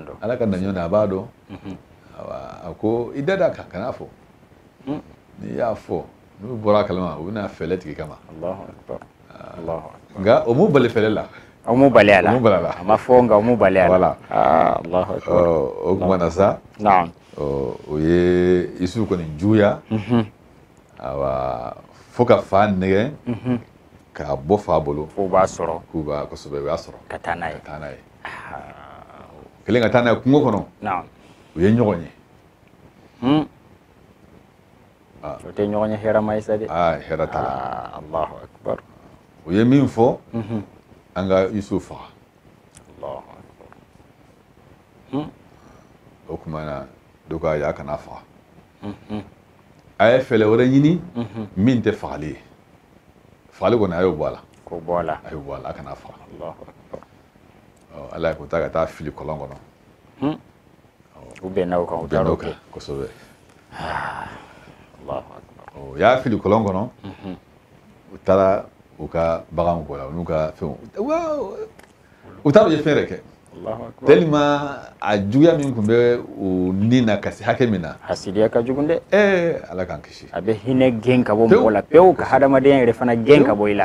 don ala ka naɲɔ na a b'a dɔn mhm. a ko i da d'a kan kan'a fɔ mm. n'i y'a fɔ n'u bɔra a kalama u bɛna fɛɛrɛ tig'i kama nka o m'u bali fɛɛrɛ la o m'u bali a la a m'a fɔ nka o m'u bali a la ah, o tuma na sa u ye isu kɔni juguya mhm. awa fo ka fa nɛgɛn mhm. k'a bɔ fa bolo k'u b'a sɔrɔ k'u b'a kosɛbɛ u y'a sɔrɔ ka taa n'a ye kelen ka taa n'a ye kungo kɔnɔ u ye ɲɔgɔn ye hmm. ah. o tɛ ɲɔgɔnye hɛrɛma ye sa dɛ ah, hɛrɛ t'a la ah, alahu akibaru u ye min fɔ mhm. an ka isu faga hmm. o tuma na dɔ k'a ya kan'a faga mhm. a ye fɛɛrɛ wɛrɛ ɲini mhm. min tɛ fagali ye fagali kɔni a y'o bɔ a la a y'o bɔ a la a kan'a faga ale ko a ta ka taa a fili kɔlɔn kɔnɔ hmm. u bɛnna o kan u taara o kɛ kosɛbɛ ah, u y'a fili kɔlɔn kɔnɔ mhm. u taara u ka baganw kɔ la u n'u ka fɛnw u taara u jɛ fɛɛrɛ kɛ tellement a juguya min tun bɛ u ni na ka se hakɛ min na hasidiya ka jugu dɛ ee ala k'an kisi a bɛ hinɛ gɛn ka bɔ mɔgɔ la pewu ka hadamadenya yɛrɛ fana gɛn ka bɔ i la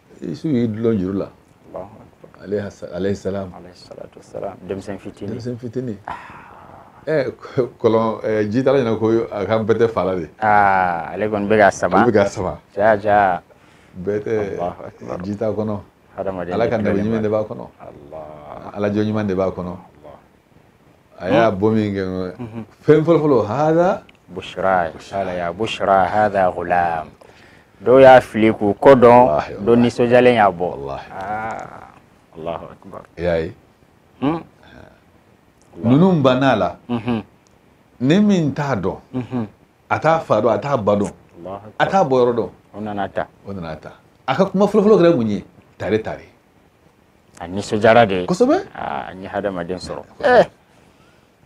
Isu y'i dulon juru la alayhi salam denmisɛn fitini denmisɛn fitini ɛ kɔlɔn jitala ɲɛ na ko a ka bɛtɛ fala de ale kɔni bɛ k'a sama bɛ k'a sama jaa jaa bɛtɛ ji t'a kɔnɔ ala ka nabi ɲuman de b'a kɔnɔ ala jɔn ɲuman de b'a kɔnɔ a y'a bɔ min kɛ fɛn fɔlɔfɔlɔ hada bushra qala ya bushra hada gulam dɔw y'a fili k'u kɔ don dɔ nisɔndiyalen y'a bɔ alahu akbar i y'a ye ninnu banna a la nin min t'a dɔn a t'a fa dɔn a t'a ba dɔn a t'a bɔ yɔrɔ dɔn o nan'a ta o nan'a ta a ka kuma fɔlɔfɔlɔ kɛra mun ye tare tare a nisɔndiyara de kosɛbɛ aa n ye hadamaden sɔrɔ eh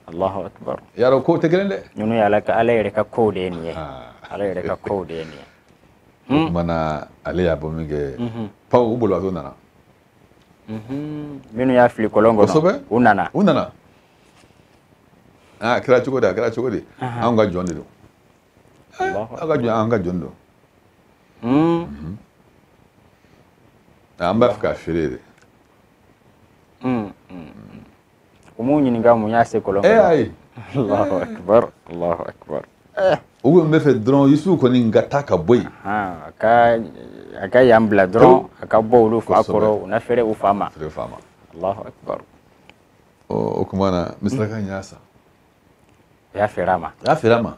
Allahu akbar yarɔ kow tɛ kelen dɛ ninnu ye ala ka ala yɛrɛ ka kow de ye nin ye ah. ala yɛrɛ ka kow de ye nin ye o hmm? kumana ale y'a bɔ min kɛ mhm. paw u bolibagatɔ nana mhm. minnu y'a fili kɔlɔn kɔnɔ kosɛbɛ u nana u nana aa ah, a kɛra cogo di a kɛra cogo di anw ka jɔn de don aw ka jɔn an ka jɔn don an b'a fɛ k'a feere de u m'u ɲininka mun y'a se kɔlɔn kɔnɔ ayi allahu akbar allahu akbar u ko n bɛ fɛ dɔrɔn yusufu kɔni ka taa ka bɔ yen a ka a ka yan bila dɔrɔn a ka bɔ olu fa kɔrɔ u na fɛrɛ u fa ma fɛrɛ fa ma allahu akbar o tuma na misiraka in y'a san o y'a feere a ma a y'a feere a ma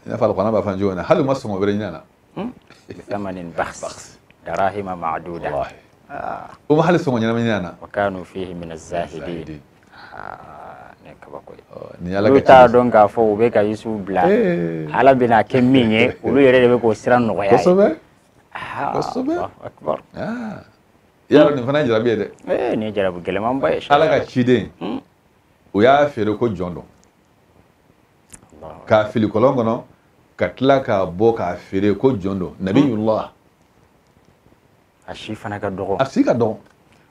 i n'a fɔ alikurana b'a fɔ an cogo hali u ma sɔngɔ bɛrɛ ɲin'a na bisamanin bakhs darahima maduda u ma hali sɔngɔ ɲɛnama ɲin'a na wa kanu fihi min azahidin ne kabako ye ni ala olu t'a dɔn k'a fɔ u bɛ ka yusufu bila ala bɛna kɛ min ye olu yɛrɛ de bɛ k'o sira nɔgɔy'a ye kosɛbɛ kosɛbɛ i y'a dɔn nin fana ye jarabi ye dɛ nin ye jarabi gɛlɛmanba ye ala ka ciden u y'a feere ko jɔn don k'a fili kɔlɔn kɔnɔ ka tila k'a bɔ k'a feere ko jɔn don nabiyullah a si fana ka dɔgɔ a si ka dɔgɔ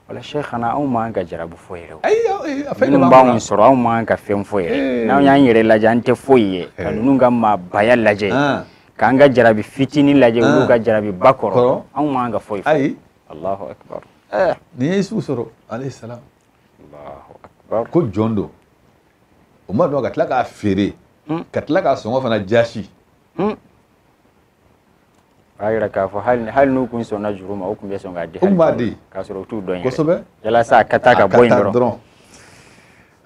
wala sheikhana anw man ka jarabu fɔ yɛrɛ minnu b'anw sɔrɔ anw man ka fɛn fɔ yɛrɛ n'anw y'an yɛrɛ lajɛ an tɛ foyi ye ka ninnu ka maabaya lajɛ k'an ka jarabi fitinin lajɛ olu ka jarabi ba kɔrɔ anw man ka foyi fɔ ayi alahu akbar n'i ye isufu sɔrɔ alayhi salam ko jɔn don o ma dɔn ka tila k'a feere hmm. ka tila k'a sɔngɔ fana jasi hmm. k'a yira k'a fɔ hali n'u kun sɔnna juru ma u tun bɛ sɔn k'a di u b'a di k'a sɔrɔ u t'u dɔn kosɛbɛ yalasa a ka taa ka bɔ yen dɔrɔn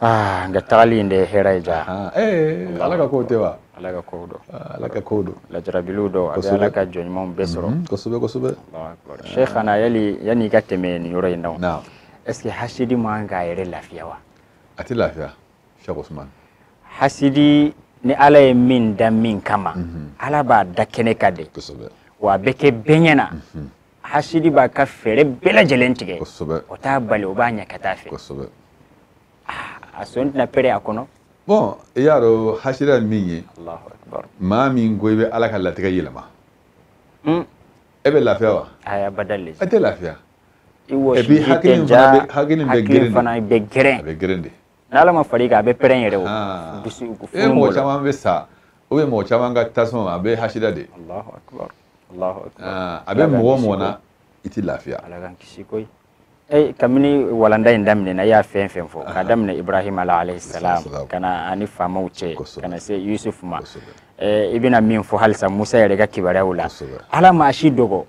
aa nka tagali in de ye hɛrɛ ye ja ala ka kow tɛ wa ala ka kow don ala ka kow don lajarabiliw don a bɛ ala ka jɔn ɲumanw bɛɛ sɔrɔ kosɛbɛ kosɛbɛ sheikhana yali yanni i ka tɛmɛ nin yɔrɔ in na est-ce que hasidi man kan k'a yɛrɛ lafiya wa a tɛ lafiya Cheikh Ousmane hasidi ni ala ye min da min kama mhm. ala b'a da kɛnɛ kan de wa a bɛ kɛ bɛɛ ɲɛ na mhm. hasidi b'a ka fɛɛrɛ bɛɛ lajɛlen tigɛ o t'a bali o b'a ɲɛ ka taa fɛ ah, a sɔn tɛna pɛrɛn a kɔnɔ bon i y'a dɔn hasidi ye min ye maa min ko i bɛ ala ka latigɛ yɛlɛma hmm. e bɛ lafiya wa a tɛ lafiya i wɔsiji tɛ ja hakili fana bɛ gɛrɛn a bɛ gɛrɛn de n'ala ma far'i kan a bɛ pɛrɛn yɛrɛ o dusu e mɔgɔ caman bɛ sa ou bien mɔgɔ caman ka tasuma a bɛɛ hasidiya de a bɛ mɔgɔ mɔgɔ na i tɛ lafiya Eh, kabini walanda in daminɛna i ye fɛn o fɛn fɔ k'a daminɛ ibrahima la alayhi salam ka na a ni faamaw cɛ ka na se yusuf ma eh, i bɛna min fɔ halisa musa yɛrɛ ka kibaruyaw la ala maa si dɔgɔ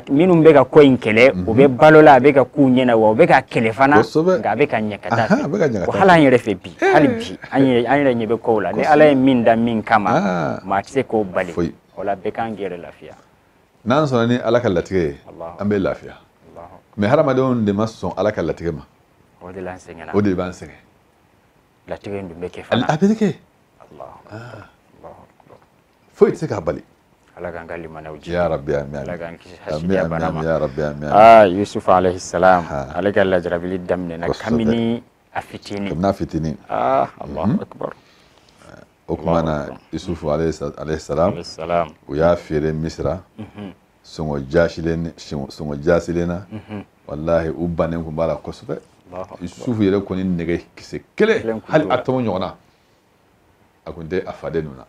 minnu bɛ ka ko in kɛlɛ u bɛ mhm. balo la a bɛ ka k'u ɲɛna wa u bɛ k'a kɛlɛ fana nka a bɛ ka ɲɛ ka taa fɛ hali an yɛrɛ fɛ bi hali bi an yɛrɛ ɲɛ bɛ kow la ni ala ye min da min kama ah. maa tɛ se k'o bali o la bɛɛ k'an yɛrɛ lafiya n'an sɔnna ni ala ka latigɛ ye an bɛ lafiya mais hadamadenw de ma sɔn ala ka latigɛ ma o de b'an sɛgɛn o de b'an sɛgɛn latigɛ in dun bɛ kɛ fana a bɛ kɛ foyi tɛ se k'a bali ala k'an ka limaniya jiidi ya rabbi amin ala k'an kisi hasidiya bana ma ya rabbi amin ah yusuf alayhi salam ale ka lajarabili daminɛna kamini a fitini kamini a fitini ah allahu mhm. akbar o kuma na yusuf alayhi salam u y'a feere misira mhm. sɔngɔ jasilen sɔngɔ jasilen na mhm. wallahi u bannen kun b'a la kosɛbɛ yusuf yɛrɛ kɔni nege kisɛ kelen hali atome ɲɔgɔnna a kun tɛ a faden ninnu na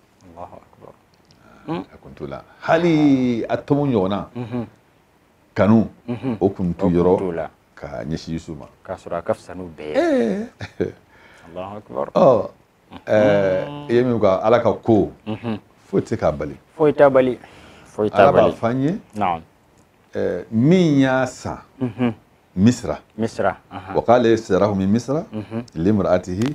hmm. a kun t'u la hali atome ɲɔgɔnna mhm. kanu mhm. o kun t'u yɔrɔ ka ɲɛsin yusuf ma k'a sɔrɔ a ka fisa n'u bɛɛ ye eh. ɔ eh, i ye min fɔ ala ka ko mhm. foyi tɛ se k'a bali foyi t'a bali foyi t'a bali ala b'a fɔ an ye eh, min y'a san misira misira wa qala lladhi shtarahu min misra limra'atihi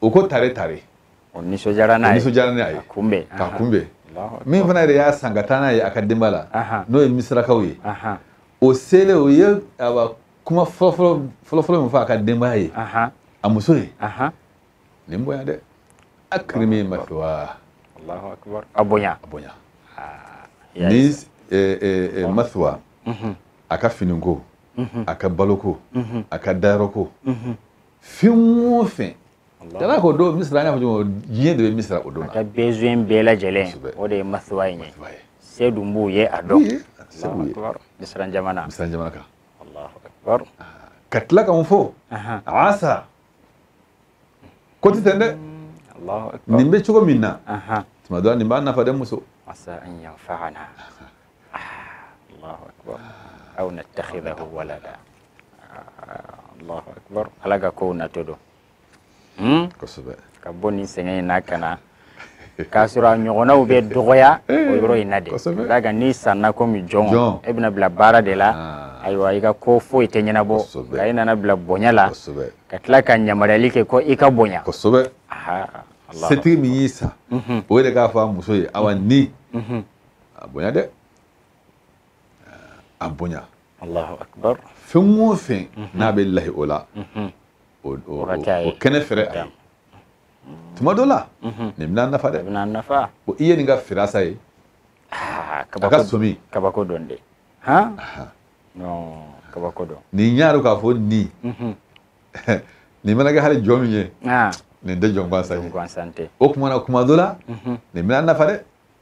o ko tare tare o nisɔndiyara n'a ye nisɔndiyara n'a ye k'a kunbɛn k'a kunbɛn min fana yɛrɛ y'a san ka taa n'a ye a ka denba la n'o ye misirakaw ye o selen o ye kuma fɔlɔfɔlɔ min fɔ a ka denbaya ye a muso ye nin bonya dɛ akrimi mathwahu a bonya a bonya ni mathwa a ka finiko a ka baloko a ka dayɔrɔko fɛn o fɛn dala ko don misira an y'a fɔ cogo min diɲɛ de bɛ misira o don na a ka besoin bɛɛ lajɛlen o de ye mathwa in ye se dun b'u ye a dɔn misira jamana misira jamana kan ka tila ka mun fɔ asa ko tɛ ten dɛ nin bɛ cogo min na tuma dɔ la nin b'an nafa dɛ muso allahu akbar aw nattakhidahu walada allahu akbar ala ka kow natɔ don hmm? kosɛbɛ ka bɔ nin sɛgɛn in na ka na k'a sɔrɔ a ɲɔgɔnnaw bɛ dɔgɔya o yɔrɔ in na de ka kan n'i sanna komi jɔn e bɛna bila baara de la ah. ayiwa i ka ko foyi tɛ ɲɛnabɔ nka e nana bila bonya la ka tila ka yamaruyali kɛ ko i ka bonya kosɛbɛ setigi min y'i san mhm. o de k'a fɔ a muso ye awa ni mhm. a bonya dɛ a bonya Allahu akbar fɛn o fɛn n'a bɛ lahi o la o o- o- Wagati a ye. o kɛnɛ fɛrɛ a ye tuma dɔ la nin bɛna nafa dɛ bɛna nafa Bon, i ye nin ka firasa ye Ah, a ka kabako somi kabako don dɛ han non kabako don nin y'a dɔn k'a fɔ nin Mhm. nin mana kɛ hali jɔn min ye ah nin tɛ jɔn gansan ye gansan tɛ o tuma na tuma dɔ la nin bɛna nafa dɛ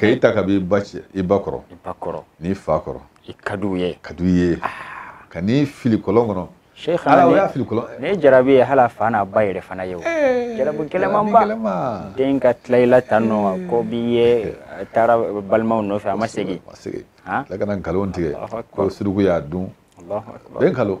ka i ta ka b'i ba cɛ i ba kɔrɔ i ba kɔrɔ n'i fa kɔrɔ i ka d'u ye ka d'u ye ah. ka n'i fili kɔlɔn kɔnɔ ala o y'a fili kɔlɔn ne jarabi ye hali a fa n'a ba yɛrɛ fana ye o eh, jarabi gɛlɛmanba den ka tila i la tan nɔ ko b'i ye a taara balimaw nɔfɛ a ma segin a ma segin tila ka na nkalon tigɛ ko suruku y'a dun bɛn kalo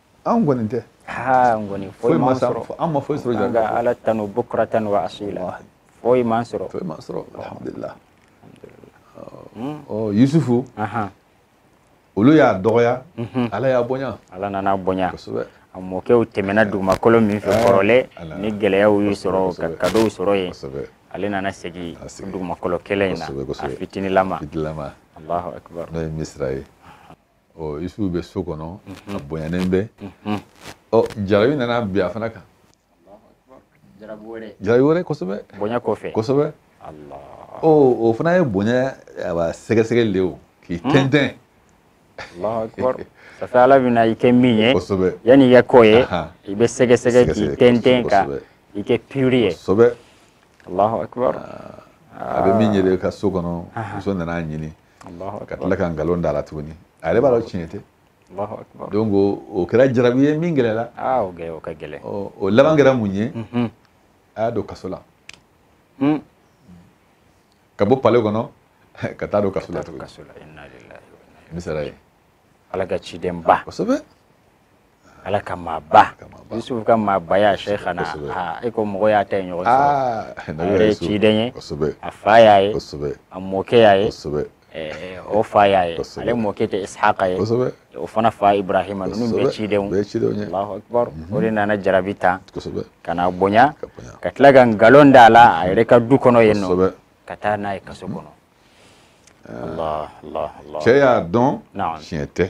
an kɔni tɛ ha n kɔni foyi m'an sɔrɔ an ma foyi sɔrɔ jɔn ka ala tanu bukuratan wa asila foyi m'an sɔrɔ foyi m'an sɔrɔ alhamdulillah ɔ yusufu olu y'a dɔgɔya mhm. ala y'a bonya ala nana bonya kosɛbɛ a mɔkɛw tɛmɛna dugumakolo min fɛ eh, kɔrɔlen ni gɛlɛyaw y'u sɔrɔ ka kadow sɔrɔ yen ale nana segin dugumakolo kelen in na a fitinilama allahu akbar n'o ye misira ye ɔ yusufu bɛ so kɔnɔ a bonyanen bɛ ɔ jarabi nana bin a fana kan jarabi wɛrɛ kosɛbɛ bonya kɔfɛ kosɛbɛ ɔ o fana ye bonya sɛgɛsɛgɛli de ye o k'i tɛntɛn safe ala bɛna i kɛ min ye yanni i ka k'o ye i bɛ sɛgɛsɛgɛ k'i tɛntɛn ka i kɛ pure ye allahu akbar a bɛ min yɛrɛ ka so kɔnɔ muso nana a ɲini ka tila ka nkalon d'a la tuguni a yɛrɛ b'a dɔn tiɲɛ tɛ donc o kɛra jarabi ye min gɛlɛla o ka gɛlɛn o laban kɛra mun ye mhm. a y'a don kaso la hmm. ka bɔ palais kɔnɔ ka taa don kaso la tuguni misira ye ala ka cidenba kosɛbɛ ala ka maaba yusufu ka maabaya sheikhana e ko mɔgɔ y'a ta ye ɲɔgɔn sɔrɔ a yɛrɛ ye ciden ye a fa y'a ye a mɔkɛ y'a ye o fa y'a ye ale mɔkɛ tɛ isaka ye o fana fa ibrahima ninnu bɛɛ cidenw allahu akbar o de nana jarabi ta ka n'a bonya ka tila ka nkalon da a la a yɛrɛ ka du kɔnɔ yen nɔ ka taa n'a ye kaso kɔnɔ cɛ y'a dɔn tiɲɛ tɛ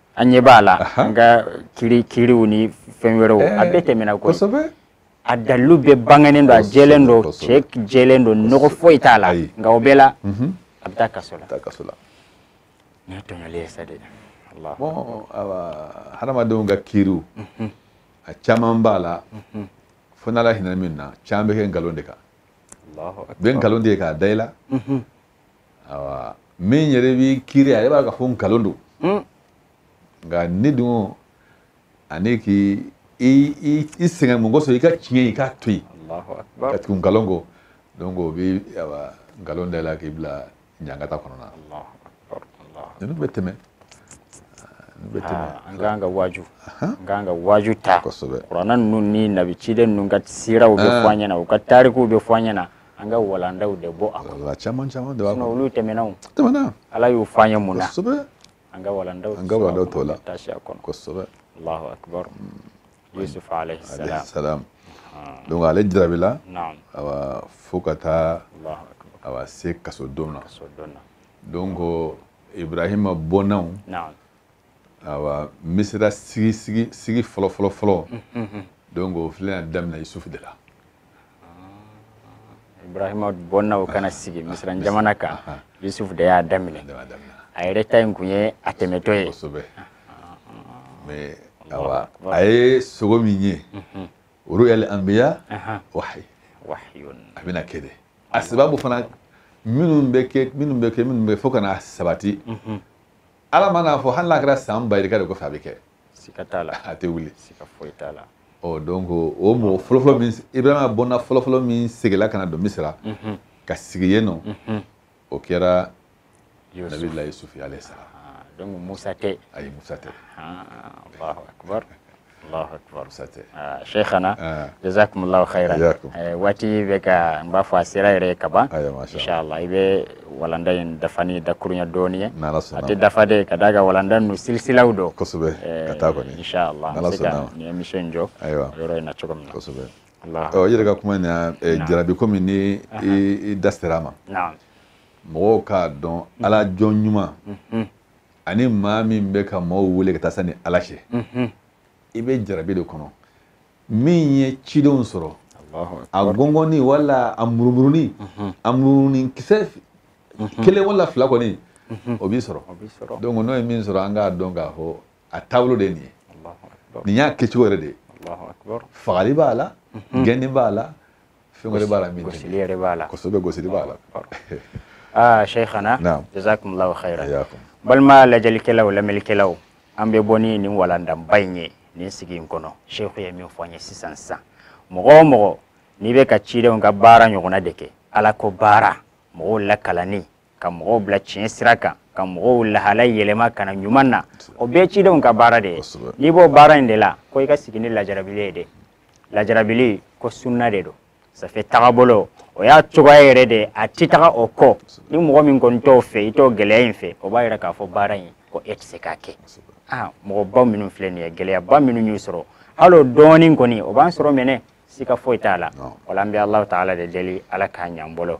an ɲɛ b'a la an ka kiri kiriw ni fɛn wɛrɛw eh, a bɛɛ tɛmɛna koyi a dalilu bɛɛ bangenen don a jɛlen don cɛ jɛlen don nɔgɔ foyi t'a la nka o bɛɛ la mhm. a bɛ taa kaso la nin ye tɔɲɔli ye sa dɛ hadamadenw ka kiriw mhm. a caman b'a la mhm. fo n'ala hinɛ min na caman bɛ kɛ nkalon de kan bɛ nkalon de kɛ k'a da i la awa min yɛrɛ b'i kiiri ale b'a ka fɔ nkalon don hmm. nka ne dun ani k'i i sɛgɛn mun kosɔn i ka tiɲɛ i k'a to yen ka tugu nkalon kɔ donc o bɛ nkalon da i la k'i bila ɲangata kɔnɔna na ninnu bɛ tɛmɛ an k'an ka waaju an k'an ka waaju ta kuranɛ ninnu ni nabi ciden ninnu ka siraw bɛ fɔ an ɲɛna u ka tarikuw bɛ fɔ an ɲɛna an ka walandaw de bɔ a kɔnɔ caman caman de b'a kɔnɔ olu tɛmɛnanw tɛmɛna ala y'u fɔ an ye mun na kosɛbɛ an ka walandaw an ka walandaw t'o la taasi a kɔnɔ kosɛbɛ allahu akbar hmm. yusuf alayhi salam salam ah. donc ale jarabila awa fo ka taa awa se kasodon na donc ibrahima bɔnnaw awa misira sigi sigi sigi fɔlɔ fɔlɔ fɔlɔ donc o filɛ yan daminɛ yusufu de la ibrahima bɔnnaw ka na sigi misira jamana kan yusufu de y'a daminɛ a yɛrɛ ta in kun ye a tɛmɛtɔ ye kosɛbɛ mais awa a ye sogo min ye o ru'yal anbiya wahyi a bɛna kɛ dɛ a sababu fana minnu bɛ kɛ minnu bɛ kɛ minnu bɛ fo ka na sabati ala mana a fɔ hali n'a kɛra san ba yirika de kɔfɛ a bɛ kɛ sika t'a la a tɛ wuli sika foyi t'a la ɔ donc o mɔgɔ fɔlɔfɔlɔ min ibrahima bɔnna fɔlɔfɔlɔ min seginna ka na don misira mhm. ka sigi yen nɔ mhm. o kɛra nabilahi yusufu alayhi salam ah, donc musa tɛ ayi musa tɛ ah, allahu akbar Allahu akbar sa tɛ ah, Cheikhana ah. jazakumullahu khairan eh, waati bɛ ka n b'a fɔ a sera yɛrɛ ka ban inshallah i bɛ walanda in dafani dakuruɲa dɔɔnin ye a tɛ dafa dɛ ka d'a kan walanda ninnu silisilaw don kosɛbɛ eh, ka taa kɔni inshallah an bɛ se ka nin émission in jɔ yɔrɔ in na cogo min na kosɛbɛ ɔ i yɛrɛ ka kuma in na eh, jarabi komi ni i da sera a ma mɔgɔw k'a dɔn ala jɔn ɲuman mm-hmm. ani maa min bɛ ka maaw wele ka taa sa ni ala cɛ i bɛ jarabi de kɔnɔ min ye cidenw sɔrɔ a gɔngɔni wala a murumurunin a murunin kisɛ kelen wala fila kɔni o b'i sɔrɔ donc n'o ye min sɔrɔ an k'a dɔn k'a fɔ a taabolo de ye nin ye nin y'a kɛcogo yɛrɛ de ye fagali b'a la gɛnni b'a la fɛn wɛrɛ b'a la min gosili yɛrɛ b'a la kosɛbɛ gosili b'a la aa shaykhana jazakumullahu khairan balima lajɛlikɛlaw lamɛnnikɛlaw an bɛ bɔ ni nin walandanba in ye nin sigi in kɔnɔ sheikh ye min fɔ an ye sisan sisan mɔgɔ o mɔgɔ n'i bɛ ka cidenw ka baara ɲɔgɔnna de kɛ ala ko baara mɔgɔw lakalanni ka mɔgɔw bila tiɲɛ sira kan ka mɔgɔw lahala yɛlɛma ka na ɲuman na o bɛɛ cidenw ka baara de ye n'i b'o baara in de la ko i ka sigi ni lajarabili ye dɛ lajarabili ko sunna de don ça fait tagabolo o y'a cogoya yɛrɛ de a ti taga o kɔ ni mɔgɔ min kɔni t'o fɛ i t'o gɛlɛya in fɛ o b'a yira k'a fɔ baara in ko e tɛ se k'a kɛ aa mɔgɔba minnu filɛ nin ye gɛlɛyaba minnu y'u sɔrɔ hali o dɔɔnin kɔni o b'an sɔrɔ mɛnɛ sika foyi t'a la wala an bɛ ala taala de deli ala k'a ɲa an bolo